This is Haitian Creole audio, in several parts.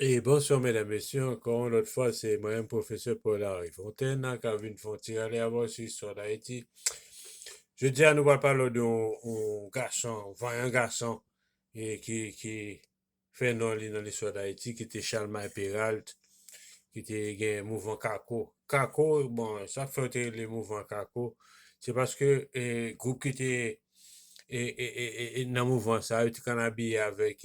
E bonswa mèdam mesye ankò yon lòt fwa se mwen menm pwofesè Paul Henri Fontaine nan ka vin fon ti rale avè w sou istwa Dayiti. Jodi a nou pral pale w de yon gason, yon vanyan gason e ki ki fè non li nan listwa Dayiti ki te Chalmay Peralt ki te gen mouvman kako. Kako bon sa k fè yo te rele mouvman kako se paske gwoup ki te e nan mouvman sa yo ti kann abiye avèk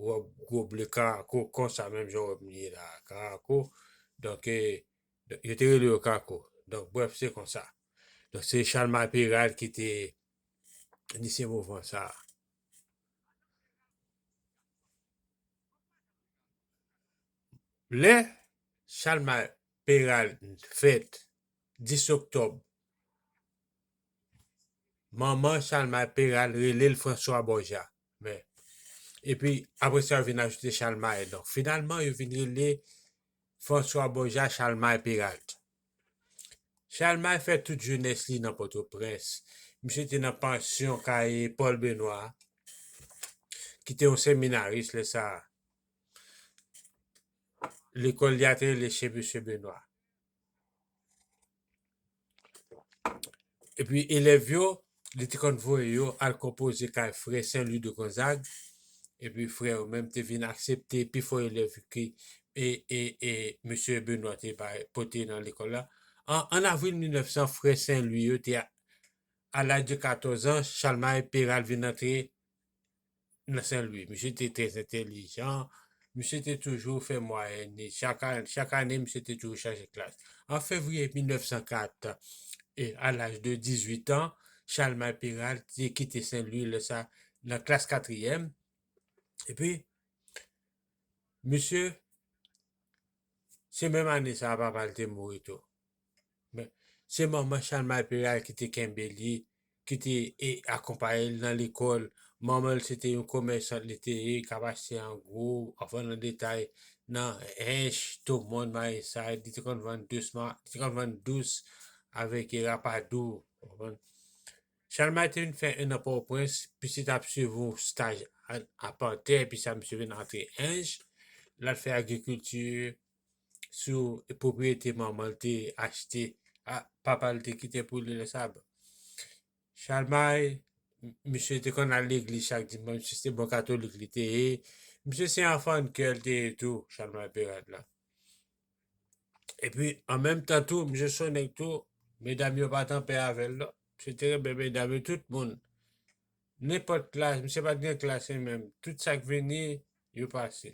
wòb gwo ble karako konsa menm jan w wè m ye la a karako donk yo te rele yo kako donk brèf se konsa donk se chalmay peral ki te inisye mouvman sa a. Lè chalmay peral fèt 10 oktòb Manman Chalmay Peral rele l François Borja. Men, epi apre sa yo vin ajoute Chalmay. Donk, finalman, yo vin rele François Borja Chalmay Peralt. Chalmay fè tout jenès li nan Pòtoprens. Misye te nan pansyon kay Paul Benoît, ki te yon seminaris lè sa a. Lekòl li a te rele Chez Monsieur Benoît. Epi elèv yo, li te konn voye yo al konpoze kay frè Sen Lwi de Gonzag, epi frè yo menm te vin aksepte pi fò elèv ki e e e Mesye Benwa te bay pote nan lekòl la. An an avril 1900, frè Sen Lwi yo te a laj de 14 an, Chalmay Peral vin antre nan Senlwi. Misye te trè entelijan, misye te toujou fè mwayèn li. Chak ane, misye te toujou chaje klas. An fevriye 1904, e a laj de 18 an, Chalmay Peral te kite Senlwi, lè sa nan klas katriyèm. Epi, misye, se menm ane sa a papa l te mouri tou. Men, se manman Chalmay Peral ki te kenbe li, ki te e, akonpaye l nan lekòl. Manman l se te yon komèsant li te ye, k ap achte an gwo, an vann an detay nan Ench, Tomon, Mayisay. Li te konn vann dousman, li te konn vann dous avèk e rapadou, ou konprann. Chalmay te vin fè 1 an Pòtoprens, pi se t ap suiv yon staj an apantè, pi sa misye vin antre Ench, l al fè agrikilti. sou pwopriyete manman l te achte, papa l te kite pou li lè sa a. Chalmay, misye te konn al legliz chak dimanch, misye se bon katolik li te ye. Misye se yon fan kè l te ye tou, Chalmay Perat la. E pi, an menm tan tou, misye se yon nèg tou, medam yo pa t anpè avè l non. Misye te renmen medam yo, tout moun. Nenpòt klas, misye pa t gen klas li menm. Tout sa k vini, yo pase.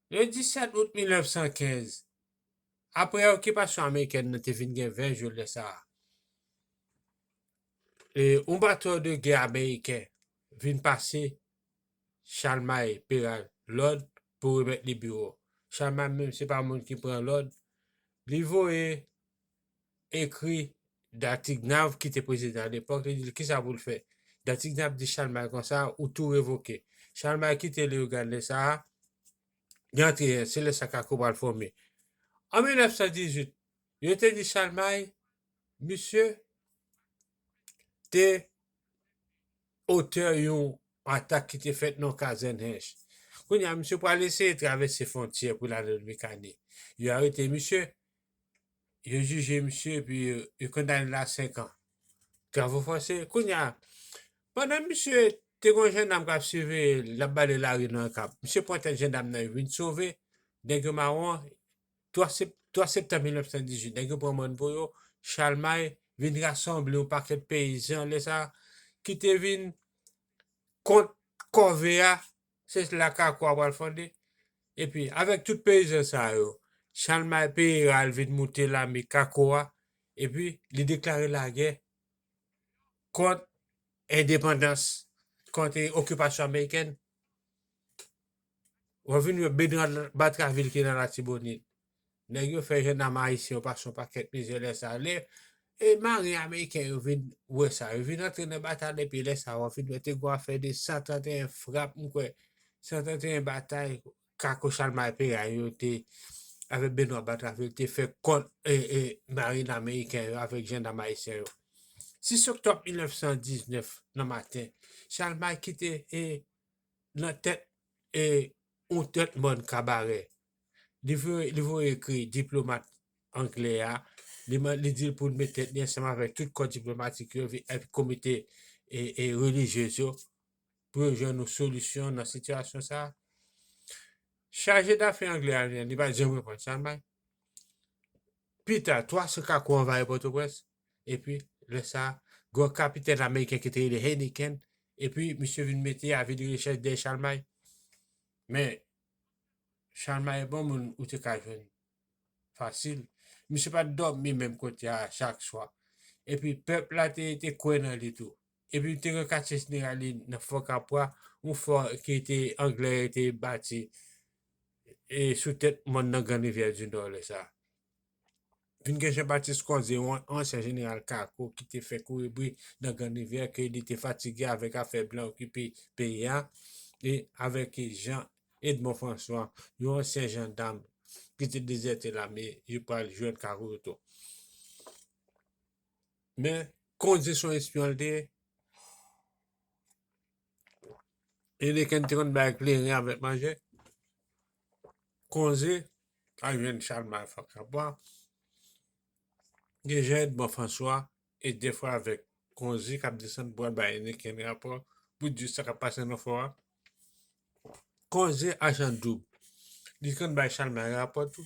Le 17 out 1915, apre okipasyon amerikèn nan te vin gen 20 jou lè sa a, e yon bato de gè ameriken vin pase Chalmay Peral lòd pou remèt li biwo. Chalmay menm se pa moun ki pran lòd, li voye ekri Dartignave ki te prezidan alepòk, li di l kisa pou l fè. Dartignave di Chalmay konsa, ou tou revoke. Chalmay kite Leyogàn lè sa a, li antre Yèl, se lè sa Kako pral fòme. An 1918, yo te di Chalmay, misye te otè yon atak ki te fèt nan yon kazèn Hench. Kounye a, misye pral eseye travèse fwontyè pou l ale Lwikane. Yo arete misye, yo jije misye epi yo kondane l a 5 an. Travaux forcés. Kounye a, pandan misye te gon jandam k ap siveye l, l ap bale lari nan Okap, misye pran tèt jandam nan yo vin sove, nèg yo mawon, 3 septanm 1918, nèg yo pran mòn pou yo, Chalmay vin rasanble yon pakèt peyizan lè sa a ki te vin kont kòve a. Se la kako a pral fonde. Epi, avèk tout peyizan sa yo, Chalmay Peyera al vin moute lame kako a, epi li deklare lagè kont endepandans, kont okipasyon amerikèn. Wap vin wè Bernard Batraville ki nan Latibonit. Nèg yo fè jendam ayisyen yo pase yon pakèt mizè lè sa a. Lè marin ameriken yo vin wè sa, yo vin antre nan batay la epi lè sa a w ap vin wè te gen yon afè de 131 frap m kwè, 131 batay kako Chalmay Perany yo te avèk Benwa Batravil te fè kont marin ameriken yo avèk jendam ayisyen yo. 6 oktòb 1919 nan maten, Chalmay ki te nan tèt yon tèt mòn kabarè li voye ekri diplomat angle a, li di l pou l met tèt li ansanm avèk tout kò diplomatik yo epi komite relijyez yo pou yo jwenn yon solisyon nan sitiyasyon sa a. Chaje dafè angle a li pa t janm reponn sa l bay. Pi ta, twa sou kakou anvayi Pòtoprens epi lè sa a, gen yon kapitèn ameriken ki te rele Heineken epi misye vin mete avi de rechèch dèyè Chalmay. Men, Shalma e bon moun ou te ka jwenn fasil. Misye pa t dòmi menm kote a chak swa. Epi pèp la te te kwè nan li tou. Epi te gen katye jeneral li nan fò kapwa, yon fò ki te anglè te bati e sou tèt mòn nan Gran Rivyè di Nò lè sa. Vin gen Jean Baptiste Conze, yon ansyen jeneral kako ki te fè kouri bri nan Grann Rivyè ke li te fatige avèk afè blan okipe peyi a, e avèk Jean Edmond François, yon ansyen jandam ki te dezète lame, yo pral jwenn kako yo tou. Men, Conze se yon espyon li te ye. Heineken te konn bay kleren avèk manje. Konze al jwenn Chalmay Fòk Kapwa. Gen jan Edmond Franswa e defwa avèk Konze k ap desann pou al bay Heineken rapò pou di sa k ap pase nan fò a. Konze ajan doub. Li konn bay Chalmay rapò tou.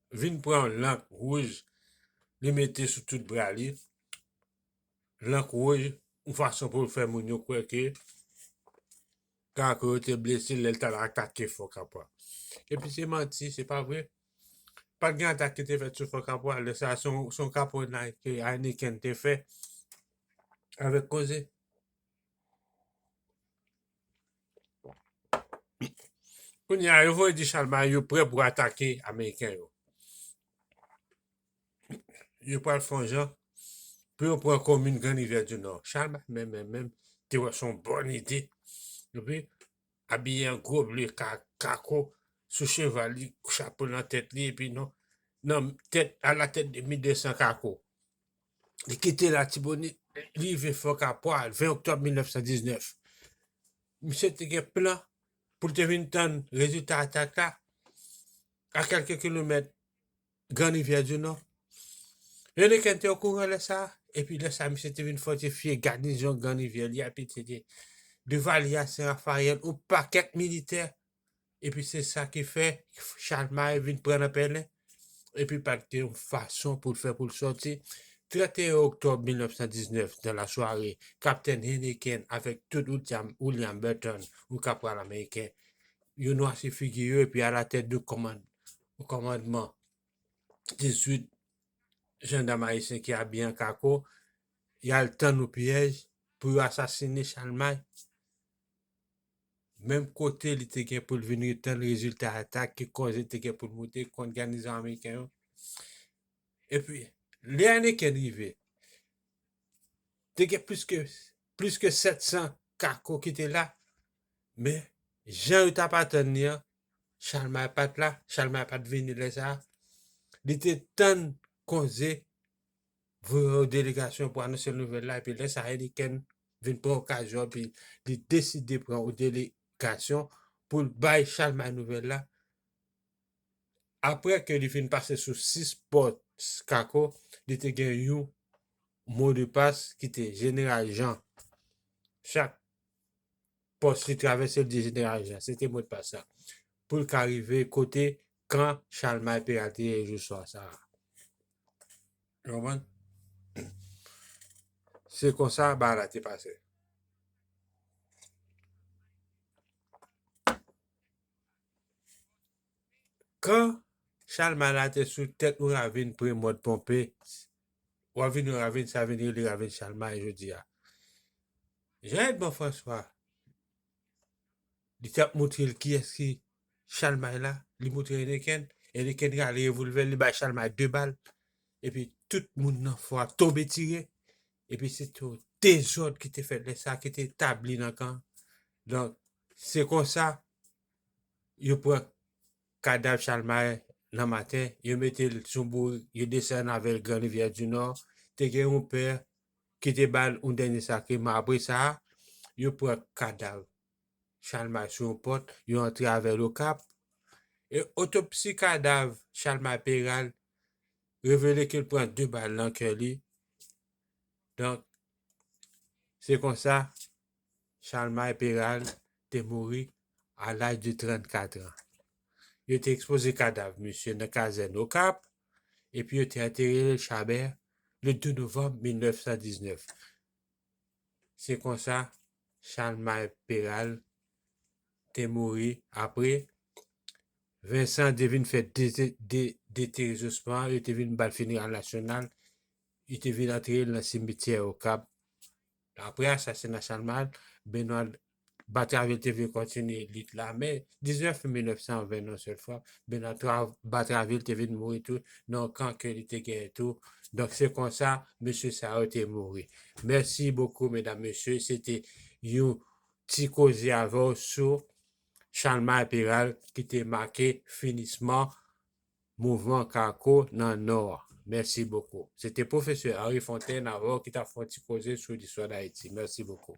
Vin pran yon lank wouj li mete sou tout bra li, lank wouj yon fason pou l fè moun yo kwè ke Karakò yo te blese l lè l t al atake Fò Kapwa. Epi se manti, se pa vre. Pa t gen atak ki te fèt sou Fò Kapwa. Lè sa a, se yon kaponnay ke Ayniken te fè avèk koze. Kounye a, yo voye di chalbari yo prè pou atake Ameriken yo. Yo pral fon jan pou yo pran komin Gran Rivyè di Nò. Chalbari menm menm menm te wè son bon ide. Epi, abiye an gwo ble kako sou cheval li, chapo nan tèt li epi non, nan tèt, a la tèt de 1200 kako. Li kite Latibonit, li rive Fò Kapwa 20 oktòb 1919. Misye te gen plan pou l te vin tann rezilta atak la a kèlke kilomèt Gran Rivyè di Nò. Rèneken te okouran lè sa a, epi lè sa a misye te vin fòtifye gadizon Gran Rivyè li a epi te gen Divalye a, Sen Rafayèl, yon pakèt militè Epi se sa ki fè Chalmay vin pran nan pèlen. Epi pa te yon fason pou l fè pou l sòti. 31 oktòb 1919, nan la sware, kaptèn Henneken avèk tout William, William Burton, yon kapral ameriken, yo nwasi figi yo epi alatèt de kòmand, kòmandman 18 jandam ayisyen ki abiye an kako, y al tann yon pyèj pou yo asasine Chalmay. menm kote li te gen pou l vin retann rezilta atak ki kòz li te gen pou l moute kont ganizon ameriken yo. Epi, lè ane ken rive, te gen plis ke plis ke 700 kako ki te la, men jan yo t ap atann ni an, Chalmay pa t la, Chalmay pa t vini lè sa a, li te tann konze voye yon delegasyon pou anonse nouvèl la epi lè sa Heineken vin pran okazyon epi li deside pran yon delegasyon pou l bay Chalmay nouvèl la apre ke li fin pase sou 6 pòt Kako li te gen yon modepas ki te Jeneral Jan chak pòs li travèse l di Jeneral Jan se te modpas la pou l ka rive kote kan Chalmay Pè a te ye jou swa sa a. Nou konprann? Se konsa bagay la te pase. Kan Chalmay la te sou tèt yon ravin pre Mòd Ponpe, w ap vin yon ravin sa vin rele ravin Chalmay jodi a. Jan Èdmon Franswa Li tap montrel kiyès ki chalmay la li montre Heineken Heineken rale revolvèl li bay chalmay 2 bal epi tout moun nan fò a tonbe tire epi se to dezòd ki te fèt lè sa ki te tabli nan kan donk se konsa yo pran kadav chalmay nan maten yo metel sou bourik yo desann avèl gran rivyè di nò te gen yon pè ki te ba l yon dènye sakreman apre sa a, yo pran kadav Chalmay sou yon pòt, yo antre avè l Okap, e otopsi kadav Chalmay Peral revele ke l pran 2 bal nan kè li, donk se konsa Chalmay Peralt te mouri a laj de 34 an. Yo te ekspoze kadav misye nan kazèn Okap epi yo te antere l Chabè le 2 novanm 1919. Se konsa Chalmay Peralt te mouri apre Vincent te vin fè deterizosman, yo te vin ba l fineral nasyonal, yo te vin antere l nan simityè Okap. Apre asasina Chalmay, Benoît Batraville te vle kontinye lit la, men 19 me 1920 yon sèl fwa, Benoît Batraville te vin mouri tou nan yon kan ke li te genyen tou, donk se konsa mesye sa yo te mouri. Mèsi bokou medam mesye, se te yon ti koze avè w sou Chalmay Peral ki te make finisman Mouvman Kako nan Nò a. Mèsi bokou. Se te Pwofesè Henri Fontaine avè w ki t ap fè yon ti koze sou listwa Dayiti. Mèsi bokou.